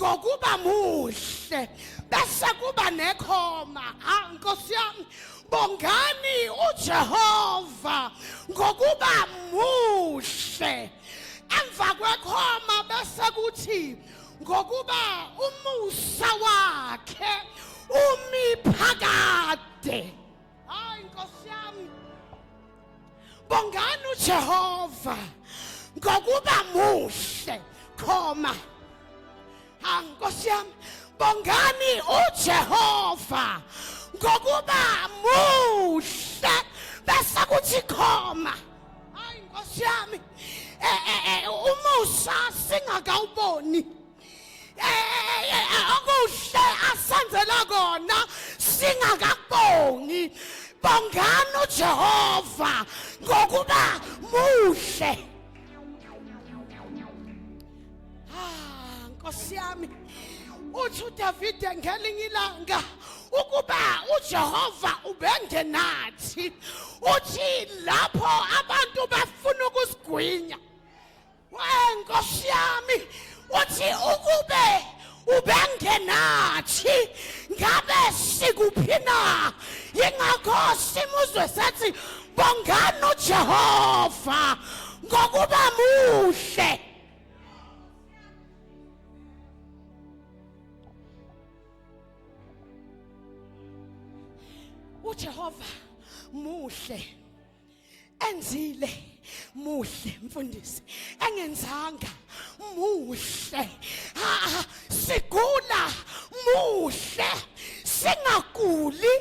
ngokuba muhle bese kuba nekhoma ha nkosi yami bongani uJehova ngokuba muhle emva kwekhoma bese kuthi ngokuba umusa wakhe umi phakade hayi nkosi yami bongani uJehova ngokuba muhle khoma ha nkosi yami bongani uJehova ngokuba muhle bese kuthi khoma hayi nkosi yami eh, eh, eh, umusa singakawuboni okuhle asenzela kona singakabongi bongani uJehova ngokuba muhle ah nkosi yami uthi uDavide ngelinye ilanga ukuba uJehova ubengenathi uthi lapho abantu bafuna ukusigwinya wenkosi yami uthi ukube ubengenathi ngabe sikuphi na yingakho simuzwe sethi bongani ujehova ngokuba muhle ujehova muhle enzile muhle mfundisi engenzanga muhle ha sigula muhle singaguli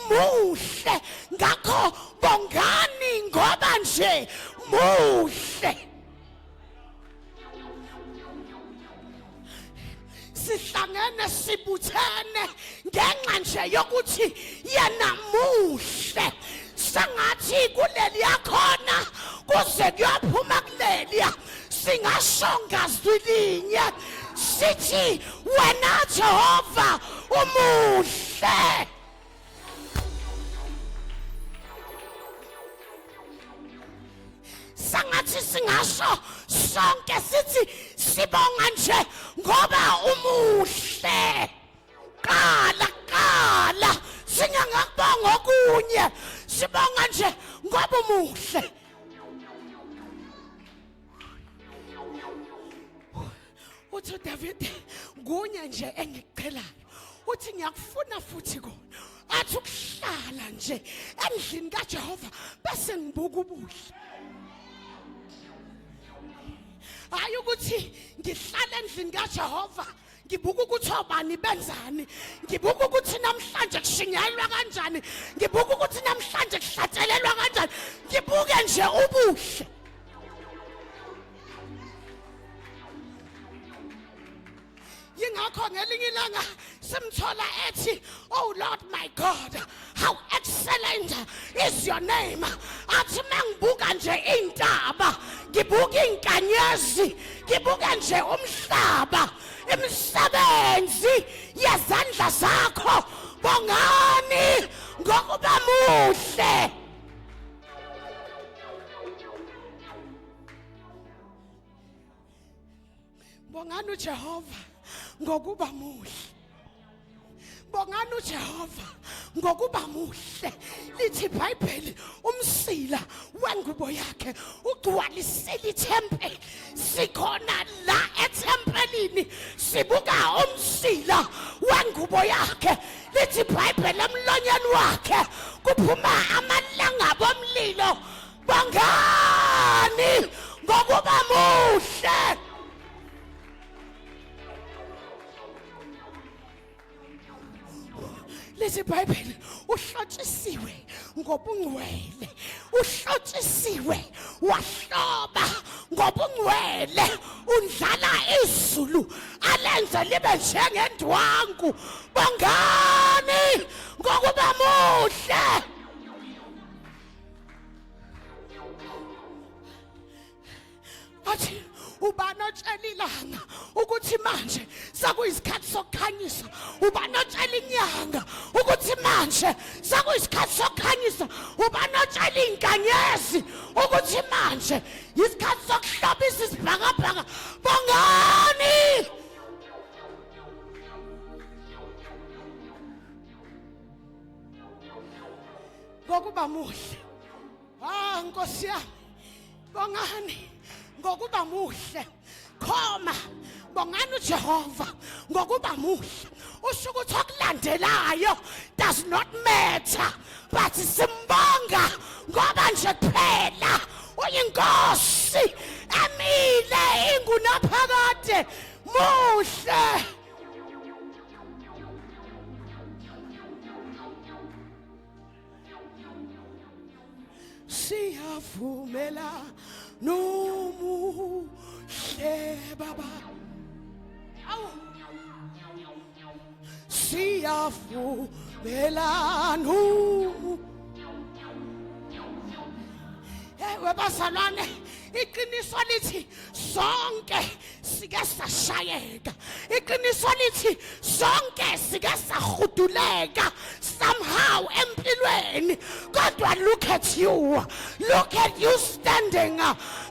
muhle ngakho bongani ngoba nje muhle sihlangene sibuthene ngenxa nje yokuthi yena muhle sengathi kuleli yakhona kuze kuyophuma kuleliya singasho ngazwi linye sithi wena Jehova umuhle sengathi singasho sonke sithi sibonga nje ngoba umuhle qala qala singangakubonga okunye sibonga nje ngoba umuhle uthi uDavid ngunye nje engicelayo uthi ngiyakufuna futhi kona athi ukuhlala nje endlini kaJehova bese ngibuka ubuhle hayi ukuthi ngihlala endlini kaJehova ngibuka ukuthi obani benzani ngibuka ukuthi namhlanje kushingelwa kanjani ngibuka ukuthi namhlanje kuhlatshelelwa kanjani ngibuke nje ubuhle yingakho ngelinye ilanga simthola ethi oh lord my god how excellent is your name athi mangibuka nje intaba ngibuka inkanyezi ngibuka nje umhlaba imisebenzi yezandla zakho bongani ngokuba muhle Bongani uJehova ngokuba muhle. Bongani uJehova ngokuba muhle. Lithi iBhayibheli umsila wengubo yakhe ugcwalisile ithempeli. Sikhona la ethempelini sibuka umsila wengubo yakhe. Lithi iBhayibheli emlonyeni wakhe kuphuma amalangabi omlilo. bangani ngokuba muhle lezi bhayibheli uhlotshisiwe ngobungcwele uhlotshisiwe wahloba ngobungcwele undlala izulu alenze libe njengendwangu bangani ngokuba muhle athi ubani otshela ilanga ukuthi manje sekuyisikhathi sokukhanyisa ubani otshela inyanga ukuthi manje sekuyisikhathi sokukhanyisa ubani otshela inkanyezi ukuthi manje yisikhathi sokuhlobisa isibhakabhaka bongani ngokuba muhle ha nkosi yami bongani ngokuba muhle khoma bongani uJehova ngokuba muhle usho ukuthi okulandelayo does not matter but simbonga ngoba nje kuphela uyinkosi emile ingunaphakade muhle siyavumela nomuhle baba awu siyavumela nomuhle hey webazalwane iqiniso lithi sonke sike sashayeka iqiniso lithi sonke sike sahuduleka somehow empilweni kodwa look at you look at you standing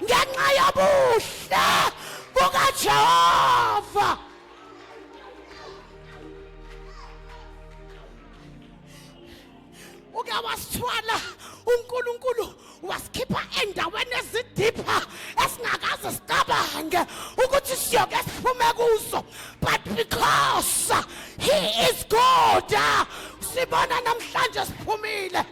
ngenxa yobuhle bukajehova uke wasithwala uNkulunkulu wasikhipha endaweni ezidipha esingakaze sicabange ukuthi siyoke siphume kuzo but because he is God sibona namhlanje siphumile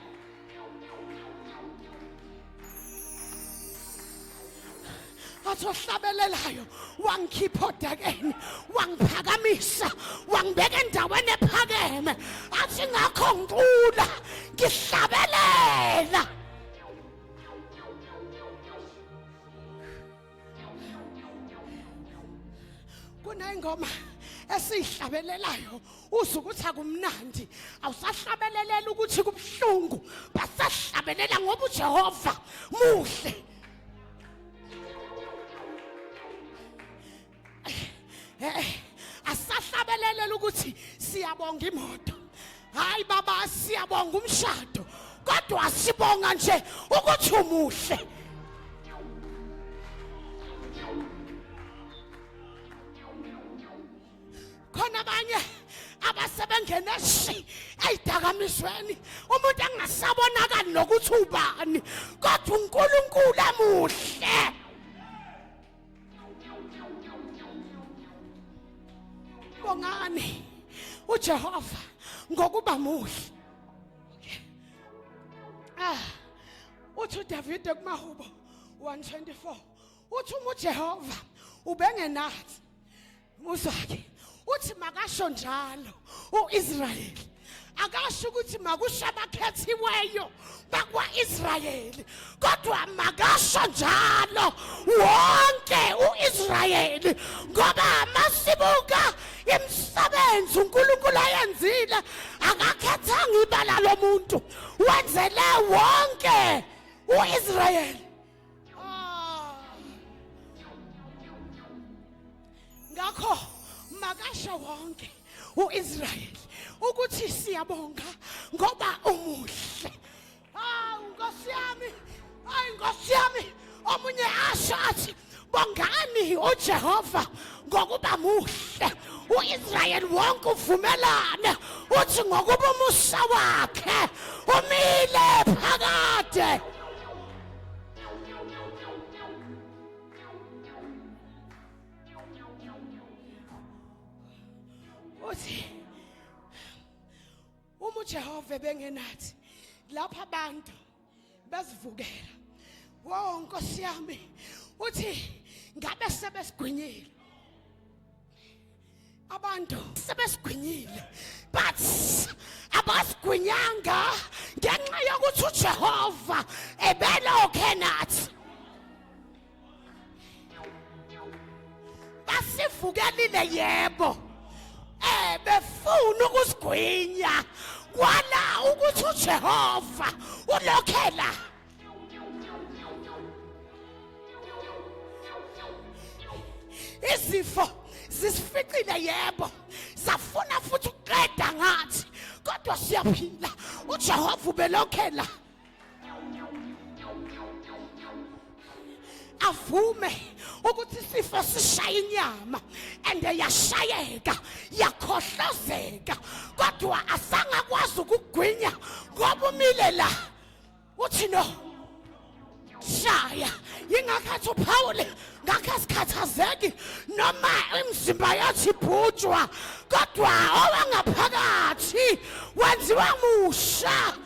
athi ohlabelelayo wangikhipha odakeni wangiphakamisa wangibeka endaweni ephakeme athi ngakho ngicula ngihlabelela kunengoma esiyihlabelelayo uze ukuthi akumnandi awusahlabelelela ukuthi kubuhlungu basahlabelela ngoba uJehova muhle asahlabelelela ukuthi siyabonga imoto hayi baba siyabonga umshado kodwa sibonga nje ukuthi umuhle khona abanye abasebengena shi ezidakamizweni umuntu angasabonakali nokuthi ubani kodwa uNkulunkulu emuhle bongani uJehova ngokuba muhle ah uthi uDavide kumahubo 124 uthi uma uJehova ubengenathi muzwake uthi makasho njalo uIsrael akasho ukuthi makusho abakhethiweyo bakwaIsrael kodwa makasho njalo wonke uIsrael ngoba masibuka imisebenzi uNkulunkulu ayenzile akakhethanga ibala lomuntu wenzele wonke uIsrael Ah. Ngakho makasho wonke uIsrael ukuthi siyabonga ngoba umuhle. Hawu Nkosi yami, hayi Nkosi yami, omunye asho athi bongani uJehova ngokuba muhle. UIsrael wonke uvumelane uthi ngokuba umusa wakhe umile phakade. uthi uma uJehova ebengenathi lapha abantu bezivukela wo nkosi yami uthi ngabe sebesigwinyile abantu sebesigwinyile but abasigwinyanga ngenxa yokuthi uJehova ebelokhe nathi basivukelile yebo eh befuna ukusigwinya kwala ukuthi uJehova ulokhela izifo zisificile yebo zafuna futhi ukuqeda ngathi kodwa siyaphila ujehova ubelokhela avume ukuthi isifo sishaya inyama and yashayeka yakhohlozeka kodwa asangakwazi ukugwinya ngoba umile la uthi no shaya yingakho athi uphawule ngakho asikhathazeki noma imizimba yathi ibhutshwa kodwa owangaphakathi wenziwa musha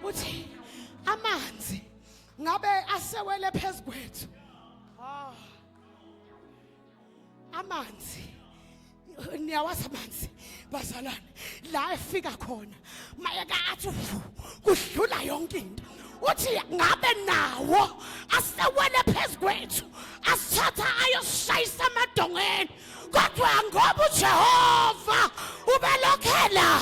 uthi amanzi ngabe asewele phezu kwethu ah amanzi niyawazi amanzi bazalwane la efika khona mayeka athi kudlula yonke into uthi ngabe nawo asewele phezu kwethu asithatha ayoshayisa amadongeni kodwa ngoba ujehova ubelokhela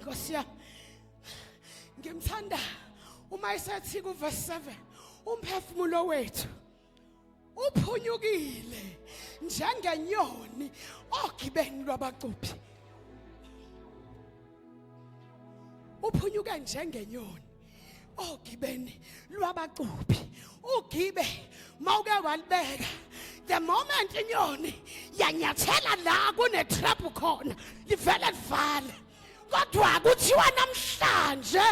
Nkosi yami. Ngimthanda uma esethi ku verse 7 umphefumulo wethu uphunyukile njengenyoni ogibeni lwabacuphi. Uphunyuke njengenyoni. ogibeni lwabacuphi ugibe mawuke walibeka the moment inyoni yanyathela la kunetrap khona livele livale kodwa kuthiwa namhlanje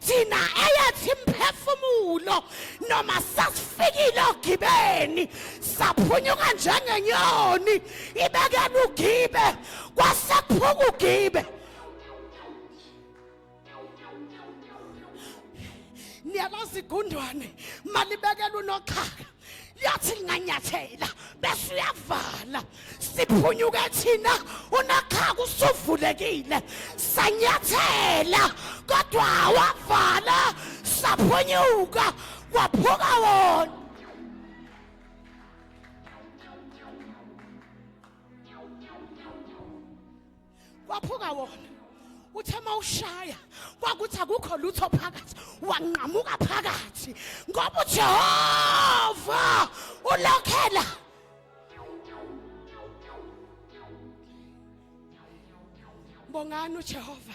thina eyathi imphefumulo noma sasifikile ogibeni saphunyuka njengenyoni ibekela ugibe kwasephuka ugibe niyalazi igundwane malibekela unoxhaka liyathi linganyathela bese uyavala siphunyuke thina unoxhaka usuvulekile sanyathela kodwa wavala saphunyuka kwaphuka wona kwaphuka wona uthe uma ushaya kwakuthi akukho lutho phakathi wanqamuka phakathi ngoba ujehova ulokhela bongani ujehova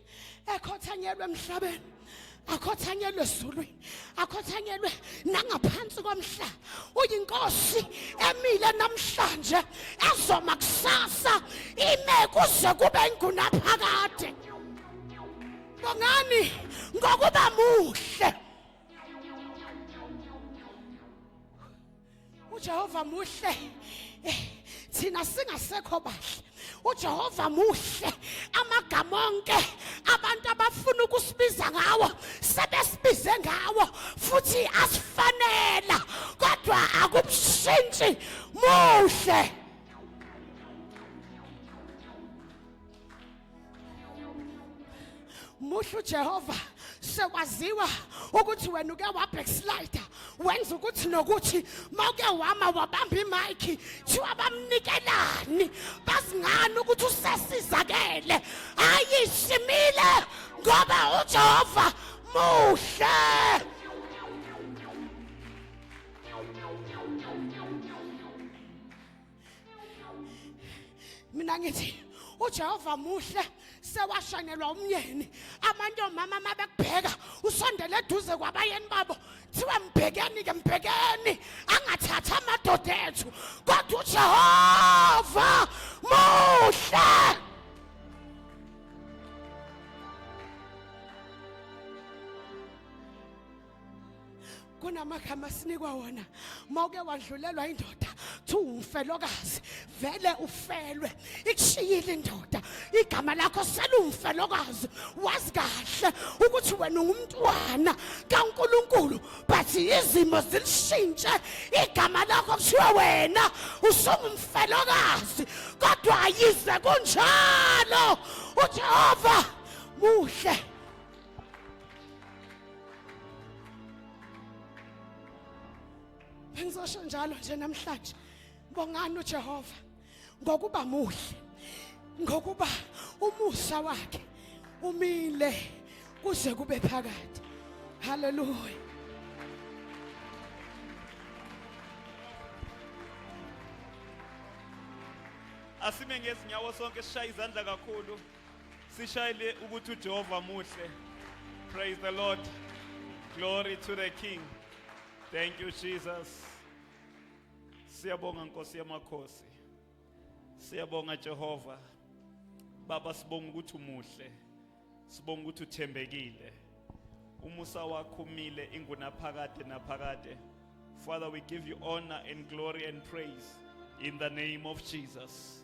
ekhothanyelwe emhlabeni akhothanyelwe ezulwini akhothanyelwe nangaphansi komhlaba uyinkosi emile namhlanje ezoma kusasa ime kuze kube ngunaphakade bongani ngokuba muhle uJehova muhle eh, thina singasekho bahle uJehova muhle amagama onke abantu abafuna ukusibiza ngawo sebesibize ngawo futhi asifanela kodwa akubshintshi muhle muhle uJehova sekwaziwa ukuthi wena uke wabackslide wenza ukuthi nokuthi mawuke wama wabamba imayikhi thiwa bamnikelani bazingani ukuthi usesizakele hayi simile ngoba uJehova muhle mina ngithi uJehova muhle sewashanelwa umyeni amantomama uma bekubheka usondele eduze kwabayeni babo kuthiwa mbhekeni ke mbhekeni angathathi amadoda ethu kodwa uJehova muhle kunamagama asinikwa wona uma uke wadlulelwa indoda kuthiwa umfelokazi vele ufelwe ikushiyile indoda igama lakho selumfelokazi wazi kahle ukuthi wena ungumntwana kaNkuluNkulu but izimo zilishintshe igama lakho kuthiwa wena usungumfelokazi kodwa yize kunjalo uJehova muhle Bengizosho njalo nje namhlanje bongani uJehova ngokuba muhle ngokuba umusa wakhe umile kuze kube phakade haleluya asime ngezinyawo sonke sishaye izandla kakhulu Sishayile ukuthi uJehova muhle. Praise the Lord. Glory to the King. Thank you Jesus. Siyabonga Nkosi yamakhosi. Siyabonga Jehova. Baba sibonga ukuthi umuhle. Sibonga ukuthi uthembekile. Umusa wakho umile ingunaphakade naphakade. Father we give you honor and glory and praise in the name of Jesus.